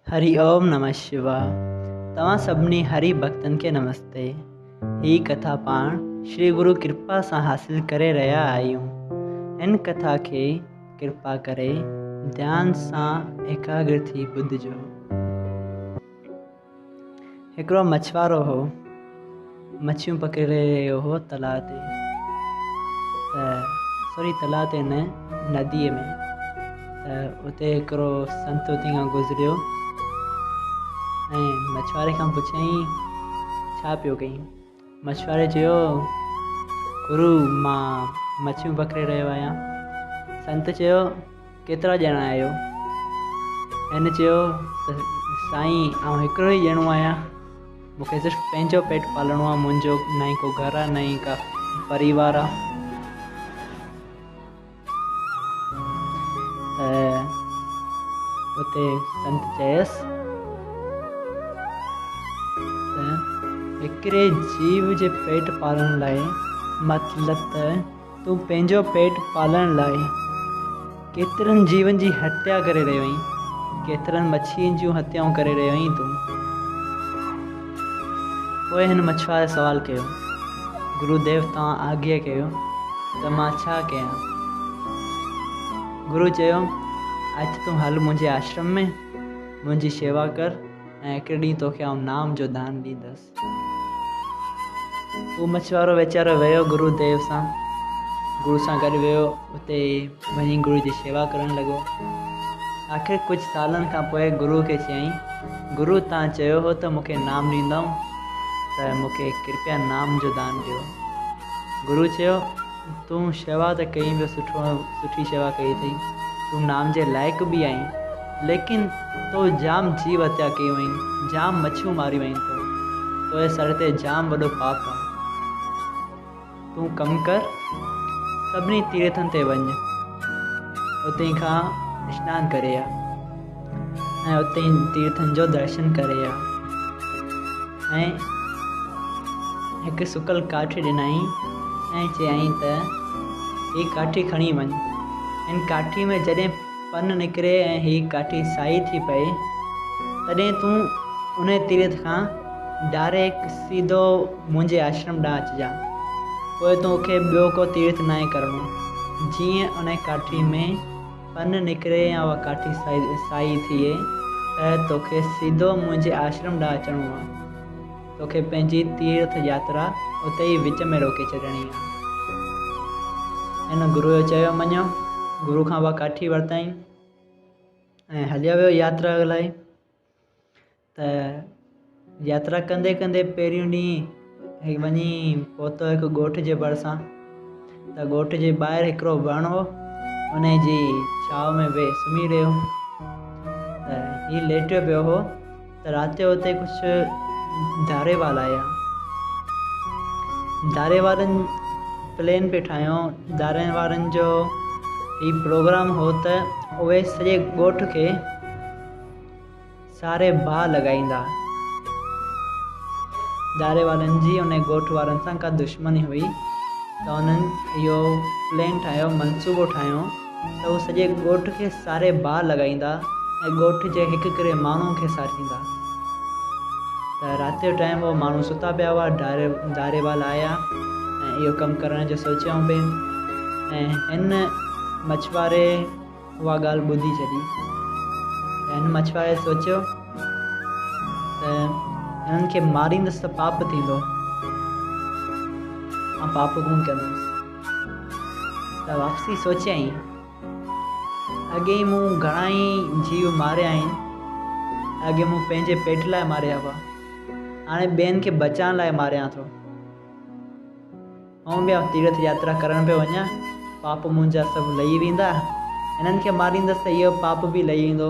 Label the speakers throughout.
Speaker 1: هري اوم نمه شوا توهان سڀني هري ڀڪتن کي نمستي هي ڪٿا پاڻ شري گرو ڪرپا سان حاصل ڪري رهيا آهيون هن ڪٿا کي ڪرپا ڪري ڌيان سان ايڪاگر ٿي ٻڌجو. هڪڙو مڇوارو هو مڇيون پڪڙي رهيو هو تلاء تي ته سوري تلاء تي نه نديء ۾ ته اتي هڪڙو سنت اتي کان گذريو ۽ مڇواري کان پڇيائين ڇا پيو ڪيئين مڇواري چيو، گرو، مان مڇيون پڪڙي رهيو آهيان. سنت چيو، ڪيترا ڄڻا آهيو؟ هن چيو ته سائين آئون هڪڙو ئي ڄڻو آهيان، مون کي صرف پنهنجو پيٽ پالڻو آهي، منهنجو نه ئي ڪو گهر آهي نه ئي ڪا پريوار آهي. ته اتي سنت چيس ته هڪڙي جيو جي پيٽ پالڻ لاء مطلب ته تون پنهنجو پيٽ پالڻ لاء ڪيترن جيون جي هتيا ڪري رهيو آهين، ڪيترن مڇين جون هتيائون ڪري رهيو آهين تون. پوء هن مڇواري سوال ڪيو، گرو ديو توهان آگهيء ڪيو ته مان ڇا ڪيان؟ گرو چيو، اچ تون هل منهنجي آشرم ۾، منهنجي شيوا ڪر ۽ هڪڙي ڏينهن توکي آئون نام جو دان ڏيندس. هو مڇوارو ويچارو ويو گرو ديو سان. گرو سان گڏ ويو اتي وڃي گرو جي شيوا ڪرڻ لڳو آخر ڪجهه سالن کان پوء گرو کي چيائين گرو تان چيو هو ته مونکي نام ڏيندائون ته مونکي ڪرپيا نام جو دان ڏيو گرو چيو تون شيوا ته ڪئي ٻيو سٺو سٺي شيوا ڪئي اٿئي تون نام جي لائق به آهين ليڪن تو جام جيو هتيا ڪيون آهين جام مڇيون ماريون آهين تو تنهنجي سر تي جام وڏو پاپ آهي تون ڪم ڪر سڀني تيرٿن تي وڃ اتي کان اسنان ڪري آ ۽ اتي تيرٿن جو درشن ڪري آ ۽ هڪ سڪل ڪاٺي ڏنائين ۽ چيائين ته هي ڪاٺي کڻي وڃ هن ڪاٺي ۾ جڏهن پن نڪري ۽ هيء ڪاٺي سائي ٿي پئي، تڏهن تون انهيء تيرٿ کان ڊائريڪٽ سيڌو منهنجي آشرم ڏانهن اچجان. پوء تو کي ٻيو ڪو تيرٿ ناهي ڪرڻو. جيئن انهيء ڪاٺي ۾ پن نڪري يا اها ڪاٺي سائي ٿئي، ته تو کي سيڌو منهنجي آشرم ڏانهن اچڻو آهي. توکي پنهنجي تيرٿ ياترا اتي ئي وچ ۾ روڪي ڇڏڻي آ. هن گروء جو چيو مڃيو. گروء کان اها ڪاٺي ورتائين ۽ هليو ويو ياترا لاء. ته ياترا ڪندي ڪندي پهريون ڏينهن وڃي پهتو هڪ ڳوٺ جي ڀرسان. ته ڳوٺ جي ٻاهر هڪڙو وڻ هو. انهي جي ڇانو ۾ ويهي سمهي رهيو. ته هي ليٽيو پيو هو. ته رات جو اتي ڪجهه داري والا آيا داري وارن پلين پئي ٺاهيو داري وارن جو هي پروگرام هو ته اهي سڄي ڳوٺ کي ساري باهه لڳائيندا داري وارن جي ان ڳوٺ وارن سان ڪا دشمني هئي ته انهن اهو پلين ٺاهيو منصوبو ٺاهيو ته هو سڄي ڳوٺ کي ساري باهه لڳائيندا ۽ ڳوٺ جي هڪ ڪري ماڻهن کي ساريندا ته رات جو ٽائيم هو ماڻهو ستا پيا هئا ڌاري ڌاري والا آيا ۽ اهو ڪم ڪرڻ جو سوچيائون پئي ۽ هن مڇواري اها ڳالهه ٻڌي ڇڏي هن مڇواري سوچيو ته هنن کي ماريندس ته پاپ ٿيندو آ پاپ ڪونه ڪندس ته واپسي سوچيائين، اڳي ئي مون گهڻا ئي جيو ماريا آهن. اڳي مون پنهنجي پيٽ لاء ماريا هئا، هاڻي ٻين کي بچائڻ لاء ماريان ٿو. هونء به آئون تيرٿ ياترا ڪرڻ پيو وڃان، پاپ منهنجا سڀ لهي ويندا. هنن کي ماريندس ته اهو پاپ به لهي ويندو.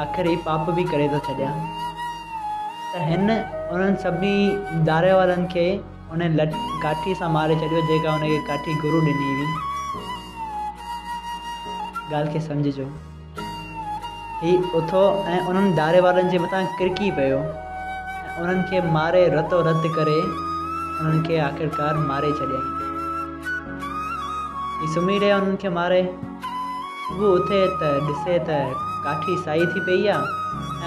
Speaker 1: آخر هي پاپ به ڪري ٿو ڇڏيان. ته هن انهن سڀني داريء وارن کي انهن لٺ ڪاٺي سان ماري ڇڏيو جيڪا ان کي ڪاٺي گرو ڏني هئي. ڳالهه کي سمجهجو. هي اٿو ۽ انهن داري وارن جي مٿان ڪرڪي پيو ۽ انهن کي ماري رتو رت ڪري انهن کي آخرڪار ماري ڇڏيائين. هي سمهي رهيو انهن کي ماري. صبح اٿي ته ڏسي ته ڪاٺي سائي ٿي پئي آهي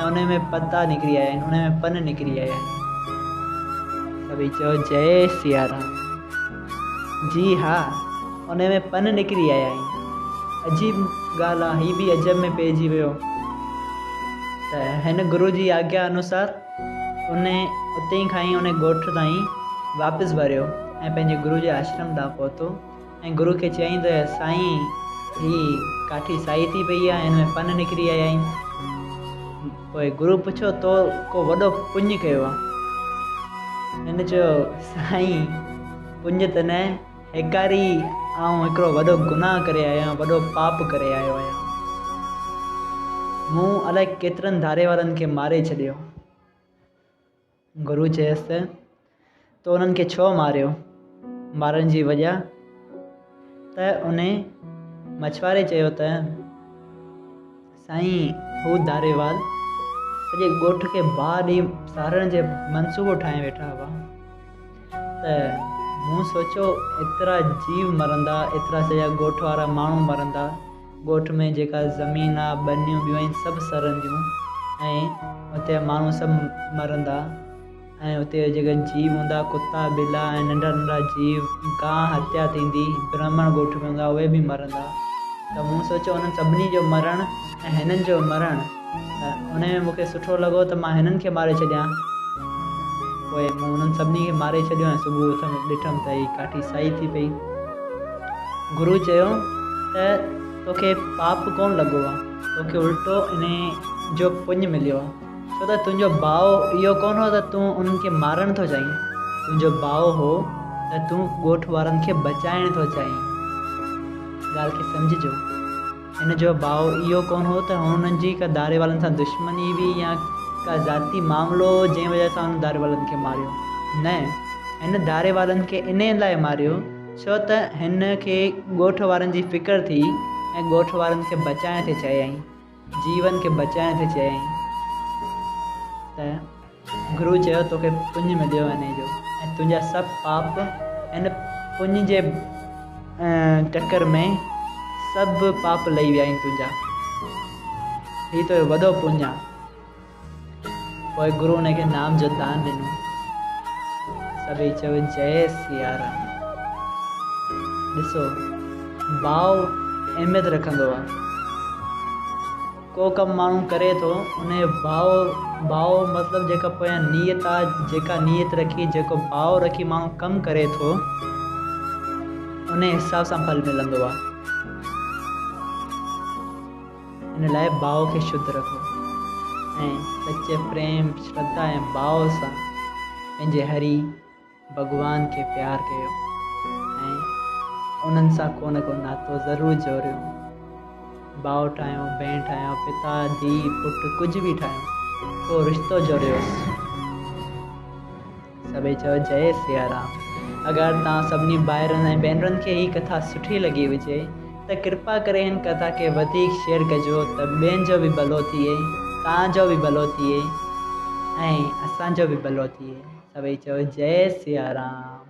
Speaker 1: ۽ انهي ۾ پتا نڪري آيا آهن، انهي ۾ پن نڪري آيا آهن. سڀئي چئو جئي سيارام. جي ها انهي ۾ پن نڪري آيا آهن. عجيب ڳالهه آ هي به عجب ۾ پئجي ويو ته هن گرو جي آگيا انوسار انهي اتي کان ئي انهي ڳوٺ تائين واپس وريو ۽ پنهنجي گرو جي آشرم ڏانهن پهتو. ۽ گرو کي چيائين ته سائين هي ڪاٺي سائي ٿي پئي آهي هن ۾ پن نڪري آيا آهن پوء گرو پڇيو تو ڪو وڏو پڃ ڪيو آهي هن چيو سائين پڃ ته نه هيڪاري آئون هڪڙو وڏو گناهه ڪري آيو آهيان وڏو پاپ ڪري آيو آهيان مون الائي ڪيترن ڌاري وارن کي ماري ڇڏيو. گرو چيس ته، تو انهن کي ڇو ماريو؟ مارڻ جي وجه؟ ته انهي مڇواري چيو ته، سائين هو ڌاريوال سڄي ڳوٺ کي باهه ڏئي سارڻ جي منصوبو ٺاهي ويٺا هئا ته مون سوچيو ايترا جيو مرندا، ايترا سڄا ڳوٺ وارا ماڻهو مرندا. ڳوٺ ۾ جيڪا زمين آ ٻنيون ٻيون آهن سڀ سرنديون ۽ اتي جا ماڻهو سڀ مرندا ۽ اتي جا جيڪا جيو هوندا ڪتا ٻلا ۽ ننڍا ننڍا جيو گاهه هتيا ٿيندي برهمڻ ڳوٺ ۾ هوندا اهي به مرندا ته مون سوچيو انهن سڀني جو مرڻ ۽ هنن جو مرڻ انهيء ۾ مون کي سٺو لڳو ته مان هنن کي ماري ڇڏيان. پوء مون انهن سڀني کي ماري ڇڏيو ۽ صبح اٿم ڏٺم ته هي ڪاٺي سائي ٿي پئي. گرو چيو ته توکي پاپ ڪونه لڳو آهي، توکي الٽو انهيء جو پڃ مليو آهي، ڇو ته تنهنجو ڀاء اهو ڪونه هو ته تون انهن کي مارڻ ٿو چاهين، تنهنجو ڀاء هو ته تون ڳوٺ وارن کي بچائڻ ٿو چاهين. ڳالهه کي سمجهجو. هن جو باء اهو ڪونه هو ته هنن جي ڪا داري والن سان دشمني هئي يا ڪا ذاتي معاملو هو جنهن وجه سان هن داري والن کي ماريو. نه، هن داري والن کي انهي لاء ماريو ڇو ته هن کي ڳوٺ وارن جي فڪر ٿي ۽ ڳوٺ وارن کي بچائڻ تي چيائين، جيون کي بچائڻ تي چيائين ته. گرو چيو، توکي پڃ مليو انهي جو ۽ تنهنجا سڀ پاپ ان پڃ جي ٽڪر ۾ سڀ پاپ لهي ويا آهن تنهنجا. هي تنهنجو وڏو پڃ آهي. پوء گرو انهي کي نام جو دان ڏنو. سڀئي چيو، جئي سيارام. ڏسو، ڀاء اهميت رکندو آهي. ڪو ڪم ماڻهو ڪري ٿو انهي ڀاء ڀاء مطلب جيڪا پويان نيت آ جيڪا نيت رکي جيڪو ڀاء رکي ماڻهو ڪم ڪري ٿو انهي حساب سان ڦل ملندو آ ان لاء ڀاء کي شڌ رکو ۽ سچي پريم شرڌا ۽ ڀاء سان پنهنجي هري ڀڳوان کي پيار ڪيو ۽ انهن سان ڪو نه ڪو ناتو ضرور جوڙيو. ڀاء ٺاهيو، ڀيڻ ٺاهيو، پتا، ڌيء، پٽ ڪجهه به ٺاهيو، ڪو رشتو جوڙيوس. سڀئي چيو جئي سيارام. اگر توهان سڀني ڀائرن ۽ ڀينرن کي هي ڪٿا سٺي لڳي هجي ته ڪرپا ڪري هن ڪٿا کي وڌيڪ شيئر ڪجو ته ٻين جو به ڀلو ٿئي، توهان جو به ڀلو ٿئي ۽ اسان جو به ڀلو ٿئي. سڀئي چئو جئي سيارام.